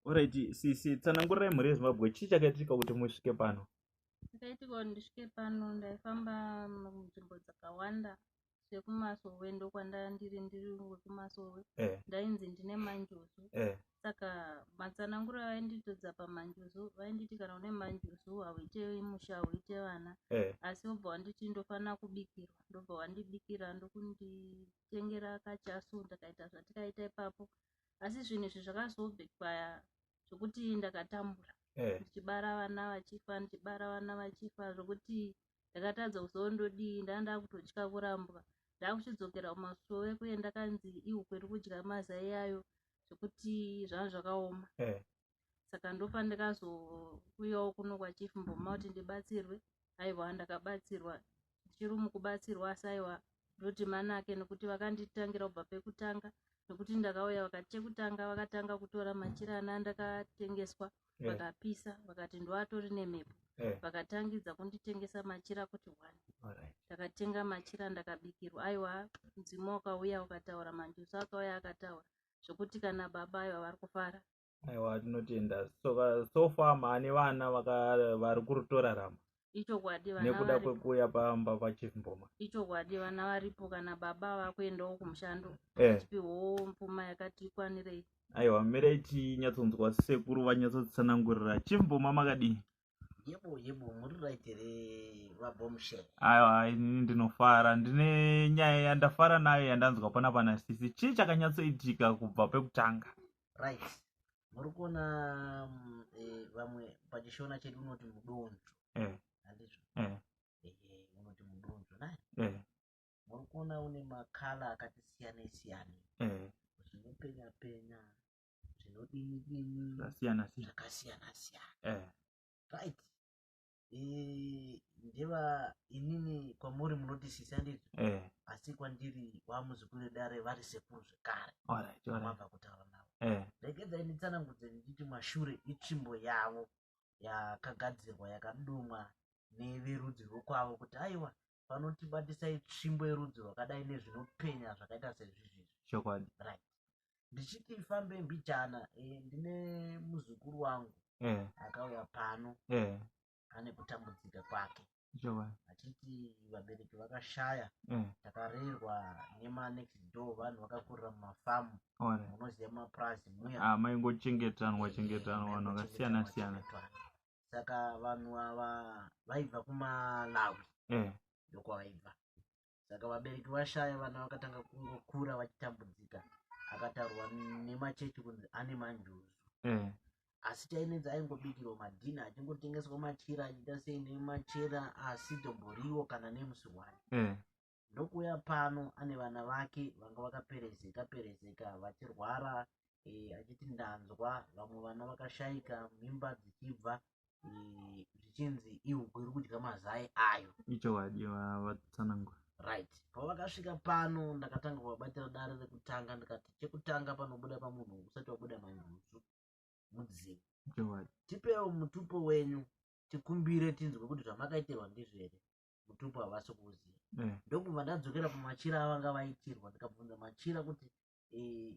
Alright, sisi tsanangurirai mhuri yeZimbabwe chii chakaitika kuti musvike pano? Ndakaitika kuti ndisvike pano ndaifamba munzvimbo dzakawanda sekumasowe ndokwandandiri ndiri wekumasowe eh. ndainzi ndine manjuzu eh. saka matsananguro avainditodza pamanjuzu vainditi kana une manjuzu hauite musha hauite vana eh. asi vobva wanditi ndofanira kubikirwa ndobva wandibikira ndokunditengera kachasu ndakaita zvatikaita ipapo asi zvinhu izvi zvakazobekwaya zvokuti ndakatambura eh. ndichibara vana vachifa ndichibara vana vachifa zvokuti ndakatadza kuzondodii ndaa ndakutotya kurambwa ndakuchidzokera kumasove kuye ndakanzi ihu kweri kudya mazai ayo zvekuti zvanga zvakaoma eh. saka ndofa ndikazouyawo kuno kwachief mboma kuti ndibatsirwe aiwa ndakabatsirwa ndichiri mukubatsirwa asi aiwa ndoti manake nekuti vakanditangira kubva pekutanga nekuti ndakauya vakati chekutanga vakatanga kutora machira ana ndakatengeswa eh. vakapisa vakati ndoatori nemhepo eh. vakatangidza kunditengesa machira kuti one ndakatenga machira ndakabikirwa aiwa mudzimu wakauya ukataura manjusu akauya akataura zvekuti kana baba aiwa vari kufara aiwa tinotenda soka so far maane vana vari kurutorarama ichokwadi nekuda kwekuuya pamba pachief mboma ichokwadi vana varipo kana baba vakuendawo kumushando eh. achipiwawo eh. mpfuma yakati ikwanirei aiwa mirai tinyatsonzwa sekuru vanyatsotsanangurira chief mboma makadii aiwa inini ndinofara ndine nyaya yandafara nayo yandanzwa pana pana sisi chii chakanyatsoitika kubva pekutanga right muri kuona mm, eh, vamwe pachishona chedu unoti mudonzvo eh. andizvo eh. unoti mudonzvo nai muri kuona une makala akati siyanei siyanei uchinopenya penya zvinodini dini zvakasiyana siyana zvakasiyana siyana eh right Eh, ndeva inini kwamuri munoti sisi anditi eh asi kwandiri wamuzukuru wedare vari sekuru zvekare all right all right wamabva kutaura navo eh ndagedza initsanangudze ndichiti mashure itsvimbo yavo yakagadzirwa yakadomwa neverudzi rwekwavo kuti aiwa vanotibatisai tsvimbo yerudzi rwakadai nezvinopenya zvakaita sezvizvizvi chokwadi right ndichiti ifambe mbijana e, eh, ndine muzukuru wangu yeah. akauya pano yeah. ane kutambudzika kwake achiti vabereki vakashaya yeah. takarerwa nemanext door vanhu vakakurira mumafamu munoziva mapurazi muya ah, maingochengetanwa chengetanwa vanhu vakasiyana siyana saka vanhu ava vaibva kumalawi mm. ndokwavaibva saka vabereki vashaya vana vakatanga kungokura vachitambudzika akatarwa nemachechi kunzi ane manjuzu mm. asi chainenzi aingobikirwa madhina achingotengeswa machira achiita sei nemachera asi domboriwo kana nemusi wani mm. ndokuuya pano ane vana vake vanga vakaperezeka perezeka vachirwara e, achiti ndanzwa vamwe vana vakashaika mimba dzichibva e, zvichinzi e, ihuku iri kudya mazai ayo ichokwadi vatsanangura right pavakasvika pano ndakatanga kuvabatira dare rekutanga ndikati chekutanga panobuda pamunhu usati wabuda manjuzu mudzimu tipewo mutupo wenyu tikumbire tinzwe kuti zvamakaitirwa ndizvere mutupo havasi kuuziva mm. ndokubva ndadzokera pamachira avanga vaitirwa ndikabvunza machira kuti e,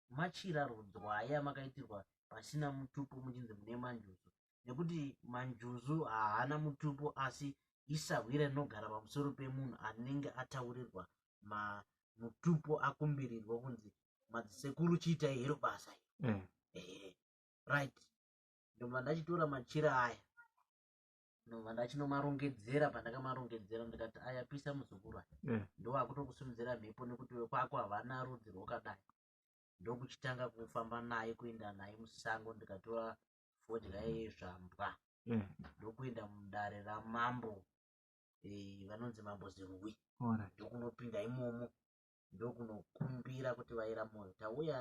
machira rudzwai amakaitirwa pasina mutupo muchinzi mune manjuzu nekuti manjuzu haana mutupo asi isahwira rinogara pamusoro pemunhu anenge ataurirwa ma mutupo akumbirirwa kunzi madzisekuru chiitai hero basa mm. eh, right ndobva ndachitora machira aya ndobva ndachinomarongedzera pandakamarongedzera ndikati aya pisa muzukuru aya eh. ndowakutokusimudzira mhepo nekuti wekwako havana rudzi rwokadai ndokuchitanga kufamba naye kuenda naye musango ndikatora fodya yezvambwa eh. ndokuenda mudare ramambo eh, vanonzi mambo zirwi ndokunopinda imomo ndokunokumbira kuti vaira moyo tauya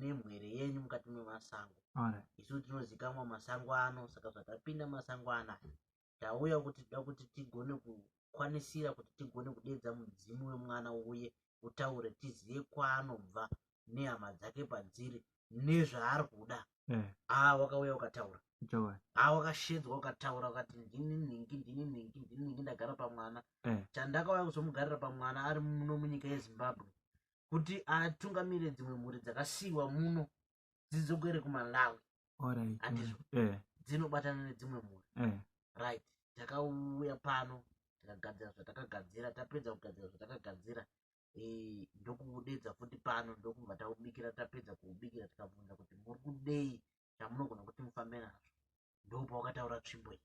nemwere yenyu mukati memasango isu tinozikamwa masango ano saka zvatapinda masango anaya tauya kuti tida kuti tigone kukwanisira kuti tigone kudedza mudzimu wemwana uye utaure tizive kwaanobva nehama dzake padziri nezvaari kuda eh. haa wakauya ukataura haa wakashedzwa ukataura ukati ndini nhingi ndini nhingi ndini nhingi ndagara pamwana eh. chandakauya kuzomugarira pamwana ari muno munyika yezimbabwe kuti atungamire dzimwe mhuri dzakasiyiwa muno dzidzokere kumalawi andizvo eh. dzinobatana nedzimwe mhuri right takauya pano takagadzira zvatakagadzira tapedza kugadzira zvatakagadzira e, ndokuudedza futi pano ndokubva taubikira tapedza kuubikira tikabvunza kuti muri kudei chamunogona kuti mufambe nazvo ndopawakataura tsvimbo iyi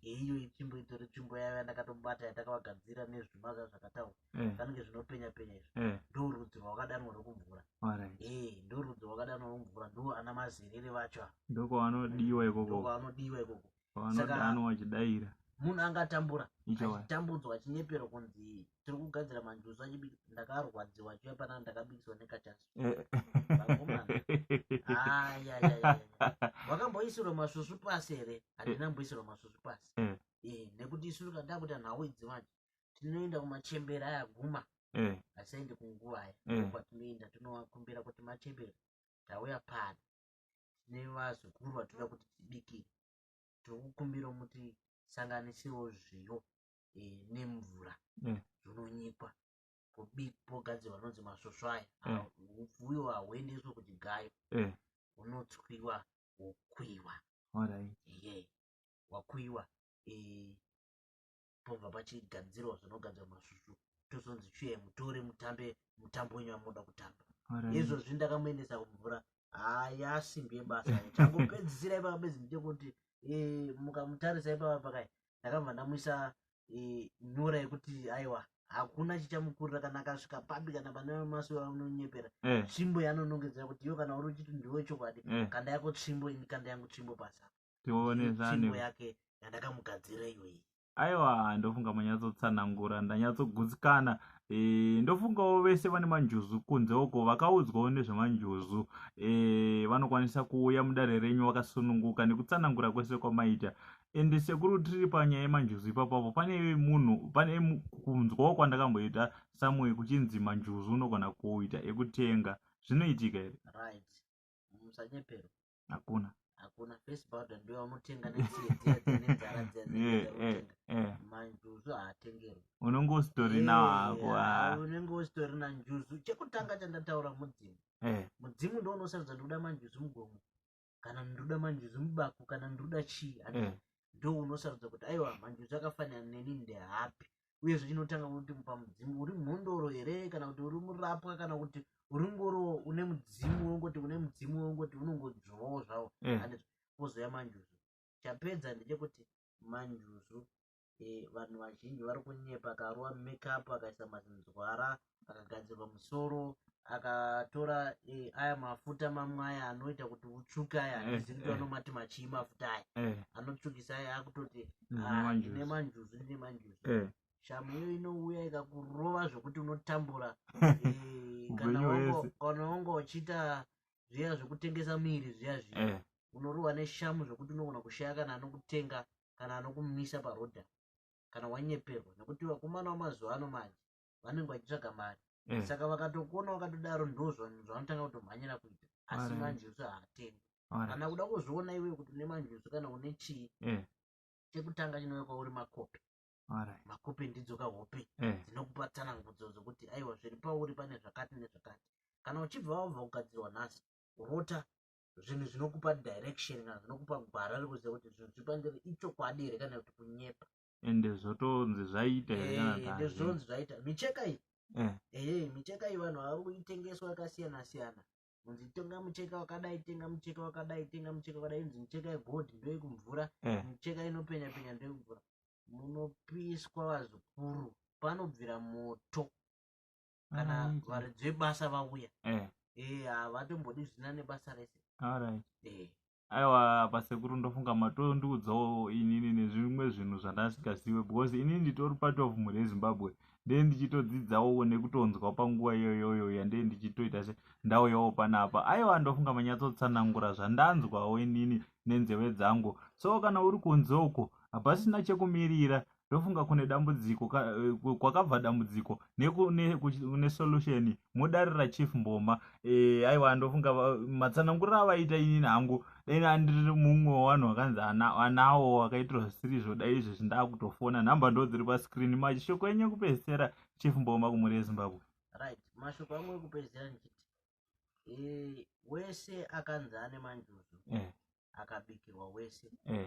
yeiyo itsvimbo itori tsvimbo yayo yandakatobata yatakavagadzira nezvimaga zvakataura eh. zvanenge zvinopenya penya izvo eh. ndo rudzi rwakadanwa rokumvura eh, ndo rudzi rwakadanwa romvura ndo ana mazerere vacho ndokwavanodiwa ikoko ndokwavanodiwa ikoko vanodanwa vachidaira munhu angatambura achitambudzwa achinyeperwa kunzi tiri kugadzira manjuzu achibika ndakarwadziwa achiuya panana ndakabikiswa nekachaso eh. wakamboisirwa masvusvu pasi here handina mboisirwa masvusvu pasi eh. Eh, nekuti isu tikadaa kuita nhau idzi manje tinoenda kumachembera aya guma asaende kunguva aya kwatinoenda tinowakumbira kuti machembera tauya pano nevazukuru vatoda kuti tibikire tikukumbirawo muti sanganisewo zviyo e, nemvura mm. zvinonyikwa pogadzirwa anonzi masvosvo aya mm. upfu uyo hauendeswe kuti gayo mm. unotswiwa wokuiwa right. yeah. wakuiwa e, pobva pachigadzirwa zvinogadzirwa masvusvu tozonzi chiye mutore mutambe mutambo wenyu wamunoda kutamba izvozvi ndakamuendesa kumvura haa yasimbi yebasa changopedzisira ipapa bedzi ndite kuti eh, mukamutarisa ipapa pakai ndakabva ndamuisa eh, nyora yekuti aiwa hakuna chichamukurira kana akasvika papi kana pane masuo anonyepera eh. tsvimbo yanonongedzera kuti iyo kana uri uchiti ndiwe chokwadi kanda yako tsvimbo ini kanda yangu tsvimbo pasa tione zvane yake yandakamugadzira iyoyi aiwa ndofunga manyatsotsanangura ndanyatsogutsikana e, ndofungawo vese vane manjuzu kunze uko vakaudzwawo nezvemanjuzu e, vanokwanisa kuuya mudare renyu vakasununguka nekutsanangura kwese kwamaita and sekuru tiri panyaya yemanjuzu ipapapo pane munhu pane kunzwawo kwandakamboita samoyo kuchinzi manjuzu unogona kuita ekutenga zvinoitika here right musanyeperwa hakuna hakuna face powder ndiyo vanotenga manjuzu haatengerwi unenge usitori nawo hako unenge usitori nanjuzu chekutanga chandataura mudzimu mudzimu ndo unosarudza ndikuda manjuzu mugomo kana ndikuda manjuzu mubaku kana ndikuda chii ndo unosarudza kuti aiwa manjuzu akafanira neni ndehapi uye zvichinotanga kuti pamudzimu uri mhondoro here kana kuti uri murapwa kana kuti uri ngoro une mudzimu wongoti une mudzimu wongoti unongodzvovawo zvavo mm. and pozouya manjuzu chapedza ndechekuti manjuzu eh, vanhu vazhinji vari kunyepa akaruwa makeup akaisa mazinzwara mm. akagadzirwa musoro akatora eh, aya mafuta mamwe aya anoita kuti utsvuke aya Eh, handizivi kuti eh. vanomati machii mafuta aya eh, anotsvukisa aya akutoti Ndine "Ah, manjuzu." ndine manjuzu ndine manjuzu eh. shamu iyo inouya ikakurova zvekuti unotambura Eh, kana Upenyu wango- hwese. kana wanga uchiita zviya zvekutengesa miiri zviya zviya Eh, unorohwa neshamu zvekuti unogona kushaya kana anokutenga kana anokumisa parodha kana wanyeperwa nekuti vakomana vamazuva ano manje vanenge vachitsvaga mari mm. saka vakatokuona wakatodaro ndo zvavanotanga kutomhanyira kuita asi manjusu haatengwi kana kuda kuzviona iwe kuti une manjusu kana une chii mm. chekutanga chinove kwauri makopi makopi ndidzo kahope mm. dzinokupa tsanangudzo dzokuti aiwa zviri pauri pane zvakati nezvakati kana uchibva wabva kugadzirwa nhasi rota zvinhu zvinokupa direction kana zvinokupa gwara rekuziva kuti zvinhu zviri pandiri ichokwadi here kana kuti kunyepa ende zvotonzi zvaita here kana kuti Eh, hazvina? ndozvonzi zvaita micheka iyi Eh, ehe micheka iyi vanhu vari kuitengeswa yakasiyana siyana kunzi tenga mucheka wakadai tenga mucheka wakadai tenga mucheka wakadai inzi micheka yegold ndoyekumvura eh, micheka inopenya penya ndoyekumvura munopiswa vazukuru panobvira moto kana Alright. varidzi vebasa vauya eh, Eh, havatombodi zvisina nebasa rese alright. Eh, aiwa pasekuru ndofunga matondiudzawo inini nezvimwe zvinhu zvandasingazive because inini nditori part of mhuri yezimbabwe ndee ndichitodzidzawo nekutonzwa panguva iyoyoyo yandee ndichitoita se ndauyawo panapa aiwa ndofunga manyatsotsanangura zvandanzwawo inini nenzeve dzangu so kana uri kunze uko hapasina chekumirira ndofunga kune dambudziko ka, eh, kwakabva dambudziko nekune solution modarira chief mboma e, aiwa ndofunga matsananguriro avaita inini hangu dai andiri mumwe wevanhu vakanzi anawo wakaitirwa zvisiri izvo dai izvezvi ndakutofona nhamba ndo dziri pascreen mashoko enyu ekupedzisera chief mboma kumhuri yezimbabwe right mashoko angu ekupedzisera ndichiti e, wese akanzi ane manjuzu e. akabikirwa wese e.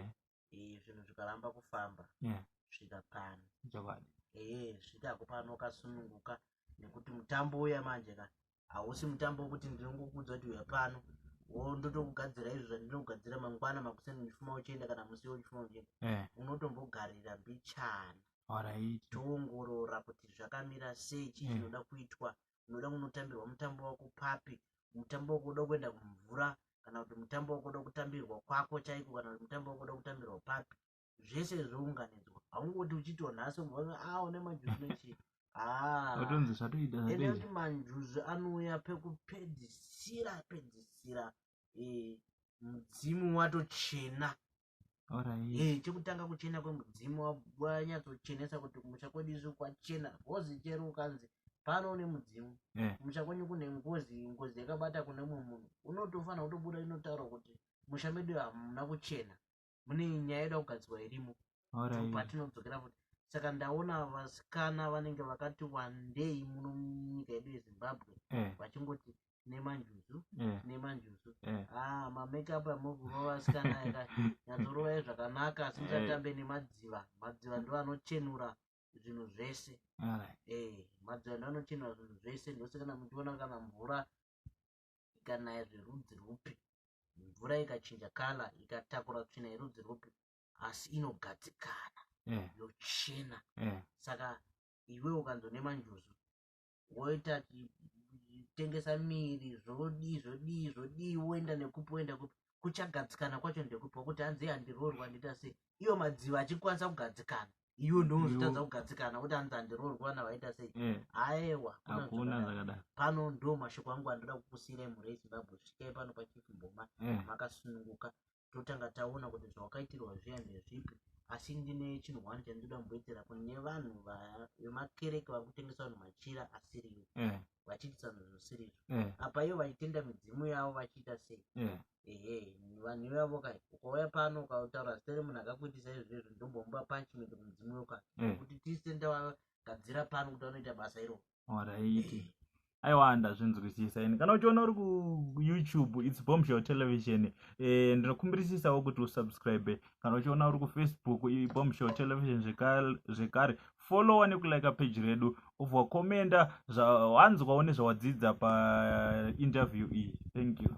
Eh, zvinhu zvikaramba kufamba Yeah. svika pano chokwadi ee zvikako pano kasununguka nekuti mutambo uya manje ka hausi mutambo wekuti ndinongokudza kuti uya pano wo ndotokugadzira izvo zvandinokugadzira mangwana makuseni uchifuma uchienda kana musi wo uchifuma uchienda Eh, unotombogarira mbichana alright toongorora kuti zvakamira sei chii Mm. chinoda kuitwa unoda kunotambirwa mutambo wako papi mutambo wakuda kuenda kumvura kana kuti mutambo wakuda kutambirwa kwako chaiko kana kuti mutambo wakuda kutambirwa papi zvese zvounganidzwa haungoti uchitiwo nhasi umbona a ah, une majuzi nechii atonzi ah. zvatoita ende kuti manjuzu anouya pekupedzisira pedzisira eh, mudzimu watochena eh, chekutanga kuchena kwemudzimu wanyatsochenesa kuti kumusha kwedu izvi kwachena bhozi chero ukanzi pano une mudzimu eh. kumusha kwenyu kune ngozi ngozi yakabata kune mumwe munhu unotofanira kutobuda inotaura kuti musha medu hamuna kuchena mune nyaya yoda kugadzirwa irimo patinodzokera futi saka ndaona vasikana vanenge vakati wandei muno munyika yedu yezimbabwe eh. vachingoti nemanjuzu eh. nemanjuzu eh. ah, mamakeup amokurova asikana eka nyatsorovai zvakanaka asi musatambe eh. nemadziva madziva ndo anochenura zvinhu zvese madziva ndo anochenura zvinhu zvese ndose kana muchiona kana mvura ikanaya zverudzi rwupi mvura ikachinja kala ikatakura tsvina yerudzi rwupi asi inogadzikana yochena saka iwe ukanzonema njuzu woita tengesa miri zvodii zvodii zvodii woenda nekupi woenda kupi kuchagadzikana kwacho ndekupi wakuti hanzi handiroorwa ndoita sei iyo madziva achikwanisa kugadzikana iwe ndozvitadza kugadzikana kuti hanzi handiroorwa na waita sei mm. aewa pano ndo mashoko angu andoda kukusiyira mhuri yezimbabwe svikai pano pachifumboma mm. makasununguka totanga taona kuti zvawakaitirwa zviya ndezvipi asi ndine chinhu one chandinoda kumboitira kune vanhu vemakereke vari kutengesa vanhu machira asiriwo eh. vachiitisa zvinhu zvisirizvo eh. apa ivo vachitenda midzimu yavo vachiita sei eh. ehe vanhu ivavo kai ukauya pano ukautaura zita remunhu akakuitisa izvezvo ndombomupa punishment kumudzimu yoka kuti tisenda gadzira pano kuti vanoita basa iroo Alright. aiwa ndazvinzwisisa ini kana uchiona uri kuyoutube its bombshell television e, ndinokumbirisisawo kuti usubscribe kana uchiona uri kufacebook ibombshell television zvekare followa nekulika page redu obva komenda zvawanzwawo nezvawadzidza painterview iyi thank you